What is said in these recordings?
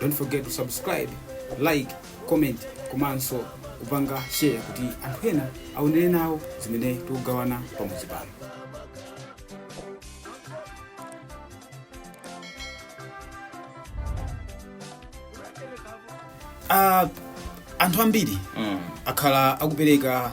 don't forget to subscribe like comment komanso kupanga share kuti anthu ena aonere nawo zimene tikugawana pamudzi pano Ah, anthu ambiri Mm. akhala akupereka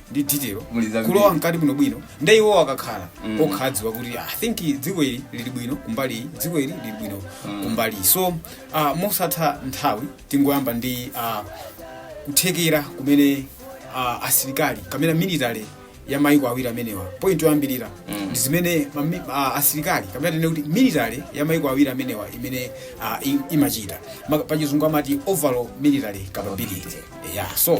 ndi detail Muli zambiri. kulowa mkati bwino bwino nde iwo akakhala Mm. okha adziwa kuti i think dziko ili lili bwino kumbali iyi dziko ili lili bwino kumbali iyi so uh, mosatha nthawi tingoyamba ndi uh, kuthekera kumene uh, asilikali kapena military ya maiko awiri amenewa point yoyambirira Mm. ndi zimene mami- ah, asilikali kapena tinene kuti military ya maiko awiri amenewa imene ah, i- imachita Ma- pachizungu amati overall military capability yeah so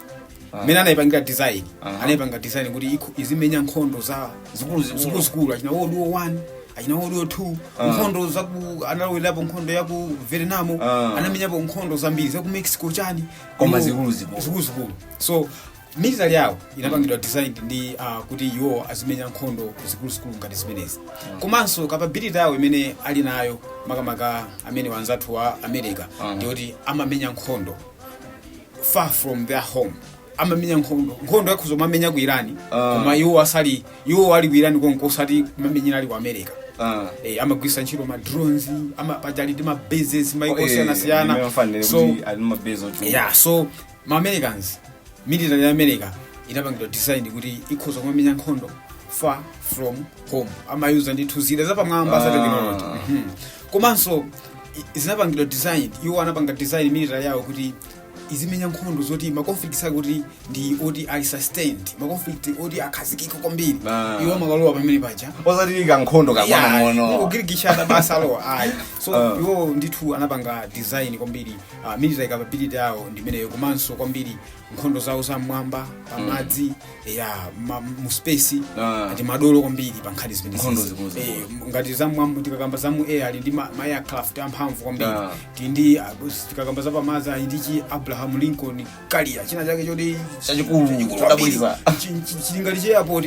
mmene anaipangira design Aha. anaipanga design kuti ikho- izimenya nkhondo za Zikuluzikulu. zikuluzikulu achina world war 1 achina world war 2 Ah. nkhondo za ku analowerapo nkhondo ya ku vietnam Ah. anamenyapo nkhondo zambiri za ku mexico chani Koma Iwo- zikuluzikulu. zikuluzikulu so military yawo inapangidwa designed ndi uh, kuti iwo azimenya nkhondo zikuluzikulu ngati zimenezi komanso capability yawo imene ali nayo makamaka amene wanzathu wa america Aha. ndiyoti amamenya nkhondo far from their home amamenya nkhondo nkhondo akhoza kumamenya ku irani Ah. koma iwo asali iwo ali ku irani konko osati kumamenyera ali ku america Ah. Eh, amagwiritsa ntchito ma drones ama paja ali ndi ma bases maiko osiyana siyana so yeah so ma americans military ya america inapangidwa design kuti ikhoza kumamenya nkhondo far from home amayuza ndithu zida zapamwamba za Ah. technology Mhm. komanso i- zinapangidwa design iwo anapanga design military yawo kuti izimenya nkhondo zoti ma conflicts ake kuti ndi oti ali sustained ma conflict oti akhazikika kwambiri Ah. iwo amakalowa pamene paja osati kankhondo kakang'ono kugirigishana basi alowa ayi so Ah. iwo ndithu anapanga design kwambiri uh, military capability yawo ndimeneyo komanso kwambiri nkhondo zawo za mmwamba pamadzi ya ma- mu space Ah. ndi madolo kwambiri pa nkhani zimene Nkhondo zi. zikulu zikulu. Eh, m- ngati za mmwamba tikakamba za mu air ali ndi ma, ma aircraft amphamvu kwambiri Ah. tili ndi ah, tikakamba za pamadzi ali ndi chi abraham lincoln carrier china chake choti Chachikulu, chachikulu chodabwitsa. kwambiri. Chi- chi- chili ngati chi airport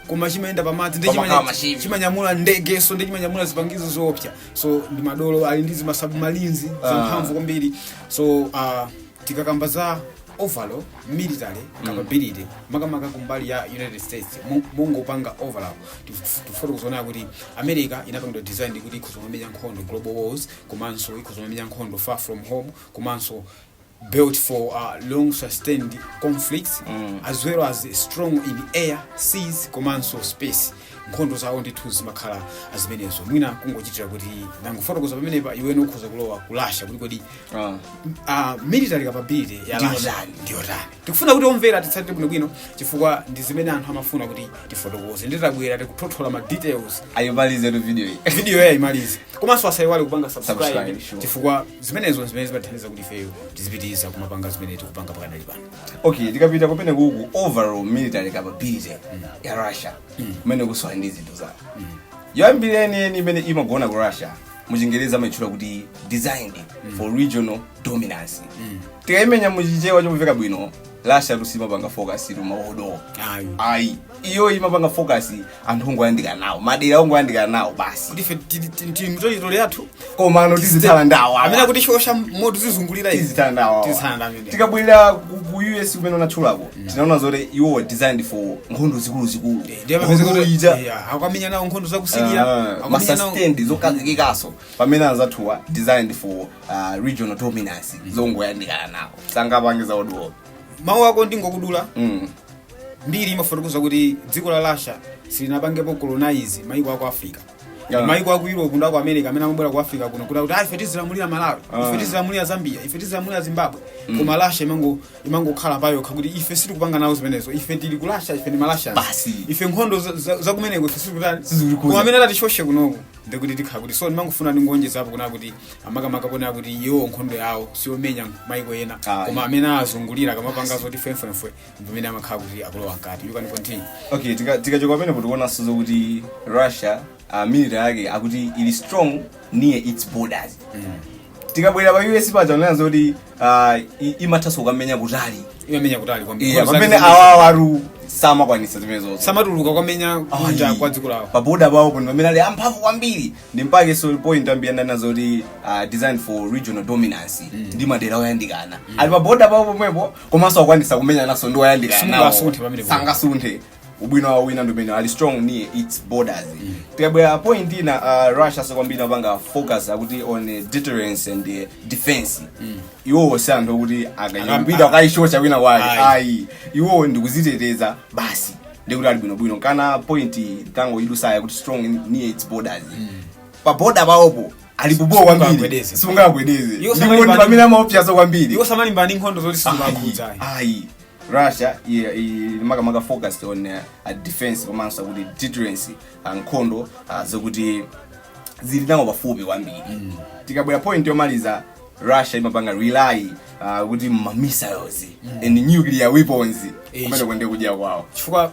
koma chimayenda pamadzi ndi Pamakhala chimanya- machine. chimanyamula ndegenso ndi chimanyamula zipangizo zoopsa so ndi madolo ali ndi zima submarines zamphamvu kwambiri so ah, tikakamba za overall military capability makamaka kumbali ya united states mo- mongopanga overall tif- tifuna kuzoona kuti america inapangidwa design kuti ikhoza kumamenya nkhondo global wars komanso ikhoza kumamenya nkhondo far from home komanso built for uh, long sustained conflicts mm. as well as strong in air seas komanso space nkhondo zawo ndithu zimakhala zimenezo mwina kungochitira kuti nangofotokoza pamenepa iwene ukhoza kulowa ku Russia kuti kodi Ah. uh, military capability ya Ndiyo Russia ndani? ndiyo ndani tikufuna kuti omvera titsatire bwinobwino chifukwa ndizi zimene anthu amafuna kuti tifotokoze nditabwera tikuthothola ma details ayimalizetu video iyi video iyi ayimalize komanso asayiwale kupanga subscribe Subscribe, sure. chifukwa zimenezo zimene zimathandiza kuti ifeyo tizipitiriza kumapanga zimene tikupanga pakanale pano okay tikapita kumene kuku overall military capability ya russia kumene kusowa ndi zinthu zawo yoyambirira yeniyeni imene imagona ku russia muchingereza amayitchula kuti designed for regional dominance tikayimenya muchichewa chomveka bwino russiatu simapanga focus tumaodowa ayi ayi iyoyi imapanga focus anthu ongoyandikana nawo madera ongoyandikana nawo basi kuti ife tili- tili- tili m'teritole yathu komano tizithana ndawo amene akutishosha moto zizungulira izi tizithana ndawo Tizithana ndawo amene. tikabwerera ku ku us kumene unatchulapo tinaona zoti iwo were designed for nkhondo zikuluzikulu ndiye Nkhondo mapezeka kuti ija- yeah, akamenya nawo nkhondo za ku Syria Ah, akamenya nawo masastendi zokazikikaso pamene anzathuwa designed for uh, regional dominance zongoyandikana nawo sangapangiza odula mawu ako ndingokudula mm. mbiri imafotokoza kuti dziko la russia silinapangepo colonize maiko aku africa Yeah. maiko aku europe ndi aku america amene amabwera ku africa kuno kuti akuti "Ah, ife tizilamulira malawi Ah. ife tizilamulira zambia ife tizilamulira zimbabwe koma russia imango- imangokhala payokha kuti ife sitikupanga nawo zimenezo ife tili ku russia ife ndi ma Russia Basi. ife nkhondo za- za- zakumeneko ife sitikutani Sizikutikhudza. koma amene atatishoshe kunoko ndikuti tithana kuti so ndimangofuna ndingowonjezapo kunena kuti makamaka kunena kuti iwo nkhondo yawo siyomenya maiko ena Ayi. koma amene azungulira akamapanga zoti fwemfwemfwe ndimene amakhala kuti akulowa mkati you can continue okay tika- tikachoka pamenepo tikuonanso zokuti russia uh, military yake akuti ili strong near its borders tikabwera pa us paja unanena zoti uh, i- imathanso kukamenya kutali imamenya kutali kwambiri. Iya, Koma pamene zake zambiri. awawa alu samakwanisa zimenezo samatuluka kukamenya kunja Ayi. kwa dziko lawo paboda pawo pano pamene ali amphamvu kwambiri ndi mpake so point ya mmene unanena zoti uh, designed for regional dominance ndi madera oyandikana ali paboda pawo pomwepo komanso akwanisa kumenyananso ndi oyandikana Simunthu nawo. asunthe pamene kuno. sangasunthe ubwino wawo wina ndi umene ali strong near its borders tikabwera point ina uh, russia so kwambiri apanga focus akuti on eh, deterrence and eh, defense iwowo si anthu okuti akayambira Akam- akayishosha wina wake Ayi. ayi iwowo ndikuziteteza basi ndikuti ali bwinobwino ngati point tangoyidutsayo kuti strong near its borders pa boda pawopo ali bhobho kwambiri Sungagwedeze. sungagwedeze Iwo ndipo ndi samalimbana- pamene amaopyaza kwambiri iwo samalimbana ndi nkhondo zoti sizimawakhudza ayi ayi russia i- i- makamaka focused on uh, uh, defense komanso kuti deterrence uh, nkhondo uh, zokuti zili nawo pafupi kwambiri tikabwera point yomaliza russia imapanga rely uh, ku ma missiles and nuclear weapons Eh, kumene kuja nde kudya kwawo chifukwa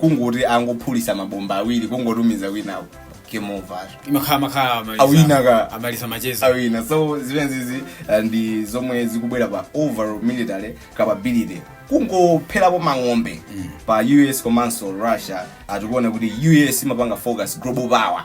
kungoti angophulitsa mabomba awiri kungotumiza kwinako game over imakhala makhala amaliza- Awina ka. amaliza macheza awina so zimenezi uh, ndi zomwe zikubwera pa overall military capability kungopherapo mang'ombe pa us komanso russia tikuona kuti us imapanga focus global power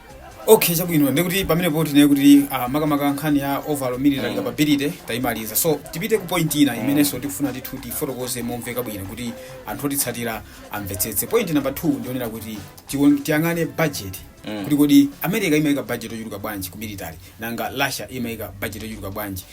okay chabwino ndikuti pamenepo tinene kuti ah, makamaka nkhani ya overall military capability tayimaliza so tipite ku point ina imenenso tikufuna tithu tifotokoze momveka bwino kuti anthu otitsatira amvetsetse point number 2 ndionere kuti tiwon- tiyang'ane budget kuti kodi america imayika budget yochuluka bwanji ku military nanga russia imayika budget yochuluka bwanji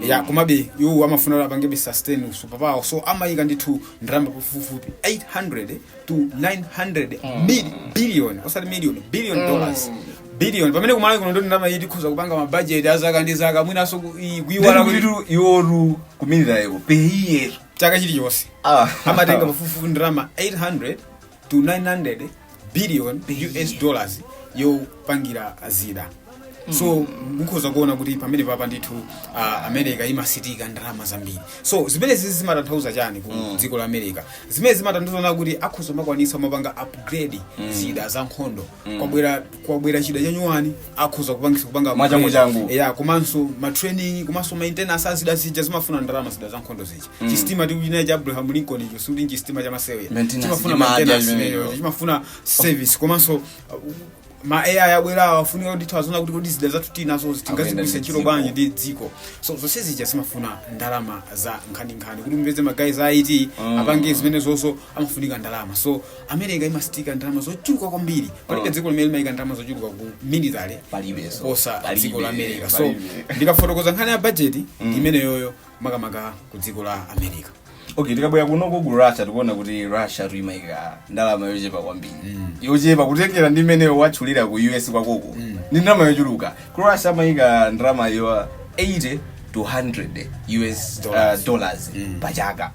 ya komabe iwo amafuna kuti apangebe sustain usuper power so amayika ndithu ndalama pafupifupi 800 to 900 mil- billion osati million billion dollars billion pamene ku Malawi kuno ndi ndalama iyi tikhoza kupanga mabajeti azaka ndi zaka mwinanso ku- iyi kuyiwala kuti ndikulitu iwotu ku military iwo pa year chaka chilichonse Ah. amatenga pafupifupi ndalama 800 to 900 billion us dollars yopangira zida so mukhoza kuona kuti pamenepapa ndithu uh, america imasintika ndalama zambiri so zimenezi zimatanthauza chani ku dziko la america zimenezi zimatanthauza kuti akhoza kumakwanitsa kumapanga upgrade zida za nkhondo kwabwera kwabwera chida chanyuwani akhoza kupangitsa kupanga upgrade. Mwachangu-changu. ya komanso matraining komanso maintenance azida zija zimafuna ndalama zida za nkhondo zija chistima tikutchulachi cha abraham lincoln icho sikuti nchistima chamasewera Maintenance, chimafuna chimadya maintenance chimenecho. chimenecho, chimafuna service komanso uh, ma ai abwera afunika kuti tione kuti kodi zida zathu tinazo tingazigwiritse ntchito dziko. bwanji ndi dziko so zonse zija zimafuna ndalama za nkhaninkhani kuti mupeze ma guy za it Mm. apange zimenezonso amafunika ndalama so america imasitika ndalama zochuluka kwambiri palibe Mm. dziko limene limayika ndalama zochuluka ku military palibenso kuposa dziko la america so ndikafotokoza nkhani ya bajeti imeneyoyo makamaka ku dziko la america okay tikabwera kunoko ku russia tikuona kuti russia imayika ndalama yochepa kwambiri Mm. yochepa kutengera ndi imene watchulira ku us kwakoko Mm. ndi ndalama yochuluka ku russia amayika ndalama yo 80 to 100 us uh, Dollars. dollars Mm. pa chaka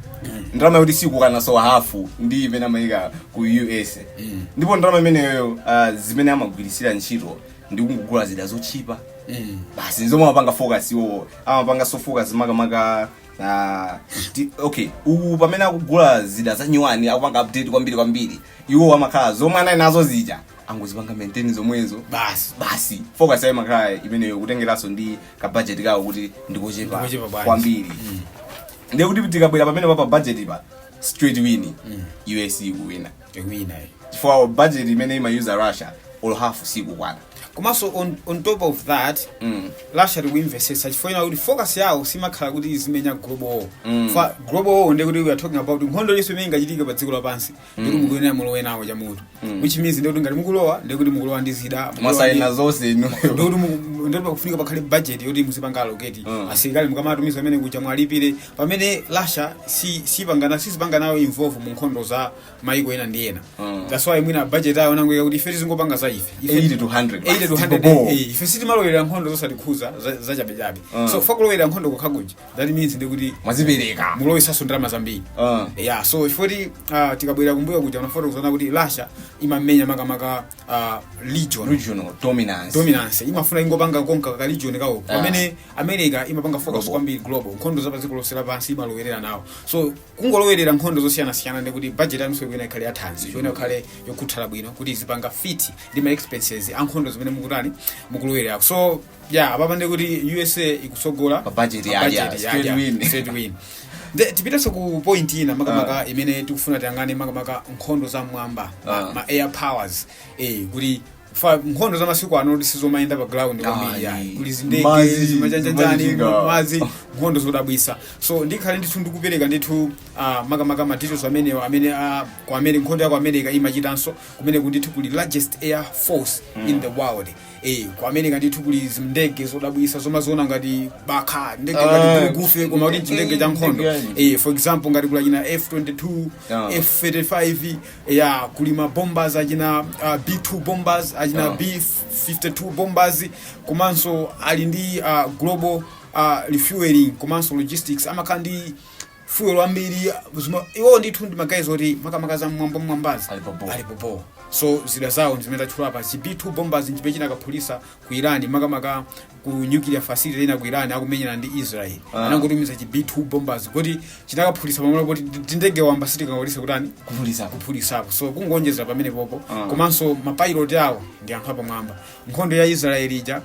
ndalama yoti sikukwananso hafu ndi imene amayika ku us Mm. ndipo ndalama imeneyo uh, zimene amagwiritsira ntchito ndi kungogula zida zochipa Mm. basi nzomwe amapanga focus iwowo amapanganso focus makamaka ah, ti- okay uku pamene akugula zida za nyuwani akupanga update kwambiri kwambiri iwo amakhala zomwe anali nazo zija angozipanga maintain zomwezo basi basi focus yawo imakhala imeneyo kutengeranso ndi ka budget kawo kuti ndikochepa Ndikochepa bwanji. kwambiri ndiye kuti tikabwera pamenepa pa budget pa straight win us ikuwina Ewina eh. chifukwa budget imene imayuza russia olo half sikukwana komanso on, on top of that Mm. russia tikuimvesetsa chifukwa chinachake kuti focus yawo simakhala kuti izimenya global war Mm. chifukwa global war ndiye kuti we are talking about nkhondo yonse imene ingachitike pa dziko lapansi ndikuti mukuyenera mulowe nawo chamutu which means ndikuti ngati mukulowa ndikuti mukulowa ndi zida mukulowa ndi- mwasaina zonse inuyo ndikuti mu- ndikuti pakufunika pakhale budget yoti muzipanga allocate Mm. asilikali mukamatumiza amene kuja mwalipire pamene russia si- sipangana sizipanga nayo involve mu nkhondo za maiko ena ndi ena Mm. that's why mwina budget ayo anangoika kuti ife tizingopanga za ife Ife- 80 to 100 80 to basi, 100, tibobo. eh, ife sitimalowerera nkhondo zosatikhuza za- zachabechabe Mm. so chifukwa kulowerera nkhondo kokhakuja that means ndi kuti mwazipereka mulowesanso ndalama zambiri Mm. yeah so chifukwa choti uh, tikabwera kumbuyo kuja tinafotokozana kuti russia imamenya makamaka uh, region regional dominance dominance imafuna ingopanga konka ka region kawo Ah. pamene america imapanga focus Global. kwambiri global nkhondo za padziko lonse lapansi imalowerera nawo so kungolowerera nkhondo zosiyanasiyana ndi kuti budget yanuyonso ikuyenera ikhale yathanzi ikuyenera ikhale yokhuthala bwino kuti izipanga fit ndi ma expenses a nkhondo zimene mukutani mukulowererako so ya apapa ndi kuti usa ikutsogola Pa budget ya- budget ya, ya- straight ya, win. straight win. Nde tipitenso ku point ina makamaka imene tikufuna tiyang'ane makamaka nkhondo za mmwamba ma- Ah. ma air powers eh kuti fa- nkhondo za masiku ano kuti sizomayenda pa ground kwambiri Ah, ayi. ni- kuti zindege mazi, zimachanjanjani zimachitika. mazi nkhondo zodabwisa so ndikhale ndithu ndikupereka ndithu ah, makamaka madetails amenewo amene ah, kwa kumene nkhondo ya ku america imachitanso kumene ndithu kuli largest air force in the world Eh, ku america ndithu kuli zindege zodabwisa zomaziona ngati bakha ndege Ah, ngati gulugufe koma kuti chindege cha nkhondo ndege yani. eh, for example ngati kuli china f22 Ah. f35 ya kuli ma bombers achina uh, b2 bombers achina Ah. b52 bombers komanso ali ndi uh, global uh, refueling komanso logistics amakhala ndi fuel wambiri zima- iwo ndithu ndi magayizi oti makamaka za mmwamba mmwambazi Ali pa ball. ali pa ball. so zida zawo ndi zimene tatchula apa chi b2 bombers nchimene chinakaphulisa ku iran makamaka ku nuclear facility ina ku iran akumenyana ndi israel Ah. anangotumiza chi b2 bombers kuti chinakaphulisa pamene poti tindege wamba sitikanakwanisa kutani kuphulisa kuphulisapo so kungonjezera pamenepopo Ah. komanso mapayiloti awo ndi anthu apamwamba nkhondo ya israeli ija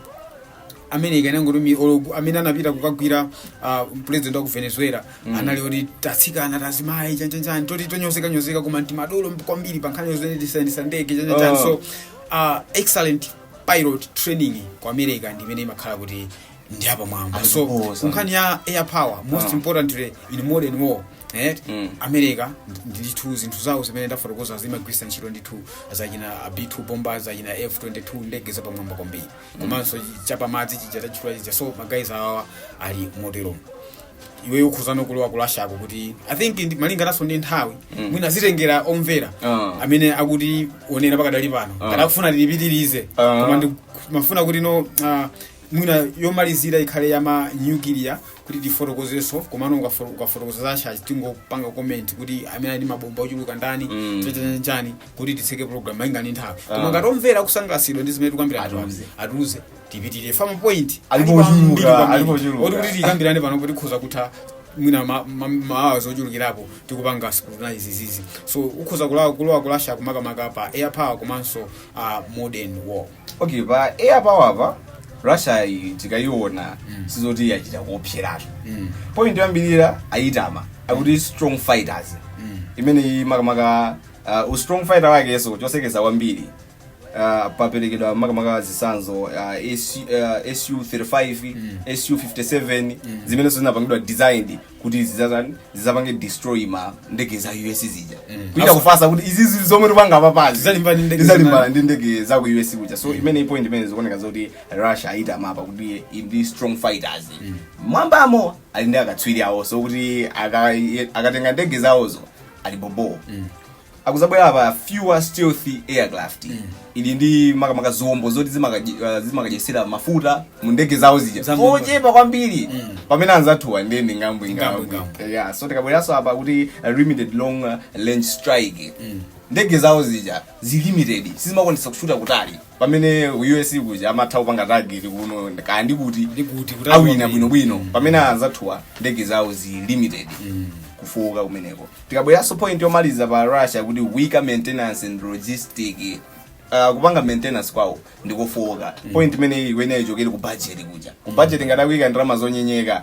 america inangotumi olo gulu amene anapita kukagwira uh, president wa ku venezuela mm. anali oti tatsikana tazimayi chanjanjani toti tonyozekanyozeka koma ntimadolo kwambiri pa nkhani zimenezi zoyendesa ndege chanjanjani Oh. so uh, excellent pilot training ku america ndi imene imakhala kuti ndi apamwamba so Aziposa. ku nkhani ya air power most Ah. importantly in modern war eh, Mm. america ndi- ndithu zinthu zawo zimene ndafotokoza zimagwirisa ntchito ndithu zachina b2 bombers zachina f22 ndege zapamwamba kwambiri komanso chapamadzi chija tachifula chija so magayizi awawa ali moteromo iwe ukhozano kulowa kulasako kuti i think ndi- malinganaso ndi nthawi mwina zitengera omvera Ah. amene akutionera pakadali pano Ah. ngati akufuna tilipitirize Ah. koma ndimafuna kuti no ah, mwina yomalizira ikhale yama nuclear kuti tifotokozeso komano ukafo- ukafotokoza zasha tingopanga comment kuti amene ali ndi mabomba ochuluka ndani Mm. chachachachani kuti titseke program malinga ndi nthawi Ah. koma ngati omvera akusangalasidwa ndi zimene tikambirana Atiuze. atiuze tipitirize ma point Alipo Alipo ochuluka, ambiri kwambiri. alipo ochuluka. Oti kuti tikambirane pano kuti tikhoza kutha mwina ma- ma- maawa ochulukirapo tikupanga scrutinize izizi so ukhoza kulowa kulowa kulasa makamaka pa air power komanso uh, modern war okay pa air power pa russia iyi tikayiona sizoti yachita kuopseratu Mm. point yoyambirira ayitama pa kuti strong fighters Mm. imeneyi makamaka Uh, u strong fighter wakenso choseketsa kwambiri uh, paperekedwa makamaka zitsanzo uh, SU, uh, su 35 mm. su 57 mm. zimenenso zinapangidwa designed kuti zizazani zizapange destroy ma ndege za us zija mm. kuita kufatsa kuti izi zili zomwe tipanga pa padzi Zizalimbana ndi ndege zizalimbana zina. ndi ndege za ku us kuja so imene point imene zikuoneka zoti russia ayitama pa kuti ndi strong fighters m'mwambamo ali ndi akatswiri awo so kuti aka- akatenga ndege zawozo ali bobo tikuzabwera apa fewer stealthy aircraft ili ndi makamaka zombo zoti zimakaje- uh, zimakadyetsera mafuta mu ndege zawo zija Za Mulungu. ochepa kwambiri Mm. pamene anzathuwa ndiye ndi ngambwe Ngambwe, ngambwe ngambwe. yeah so tikabweranso apa kuti uh, limited long uh, range strike ndege zawo zija zili limited sizimakwanisa kushuta kutali pamene us kuja amatha kupanga target kuno kaya ndi kuti Ndi kuti, kuti awina awina. bwinobwino pamene anzathuwa ndege zawo zili limited kufooka kumeneko tikabweranso point yomaliza pa russia kuti weaker maintenance and logistic Uh, kupanga maintenance kwawo ndikofowoka point imene imeneyo ikuchokera ku budget kuja ku budget ngati akuika ndalama zonyenyeka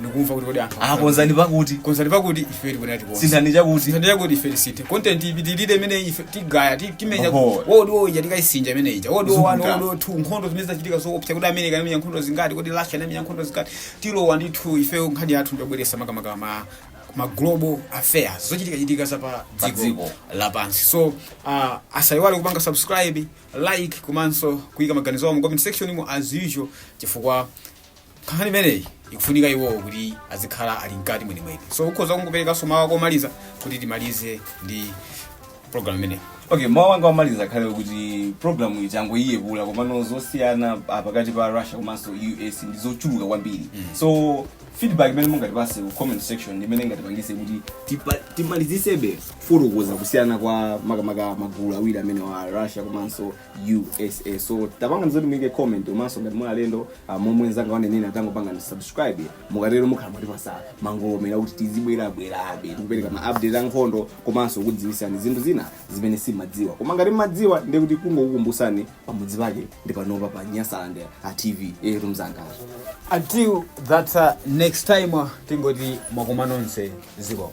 ndikumva kuti kodi anthu akonzani pakuti konzani pakuti ife tikuyenera tikonze sinthani chakuti sinthani chakuti ife tisinthe content ipitirire imene ife tigaya ti- timenye Oho. world war ija tikaisinja imene ija World War one Zikuta. world war two nkhondo zimene zachitika zoopsa kuti america inamenya nkhondo zingati kodi russia inamenya nkhondo zingati tilowa ndithu ife nkhani yathu ndiyobweresa makamaka ma ma global affairs zochitikachitika za pa Pa dziko dziko. lapansi so uh, asayiwale kupanga subscribe like komanso kuyika maganizo awo mu comment section mu as usual chifukwa nkhani imeneyi ikufunika iwowo kuti azikhala ali mkati mwenimweni so ukhoza kungoperekanso mawu ako omaliza kuti timalize ndi program imeneyi okay mawu anga omaliza akhale kuti programu iyi tangoiyepula komano zosiyana ah, pakati pa russia komanso us ndi zochuluka kwambiri so feedback imene mungatipase ku comment section ndi imene ingatipangise kuti tipa- timalizisebe kufotokoza kusiyana kwa makamaka magulu awiri amenewa russia komanso usa so tapangani zoti muyike comment komanso ngati muli alendo ah, momwe nzanga wanenena tangopangani subscribe mukatero mukhala mwatipasa mangolomela kuti tizibwerabwerabe tikupereka ma update a nkhondo komanso kukudziwitsani zinthu zina zimene simadziwa koma ngati mmadziwa ndiye kuti kungokukumbusani pamudzi pake ndi panopa pa nyasalande a tv etu mzangazo until that uh, next time uh, tingoti mwakoma nonse zikomo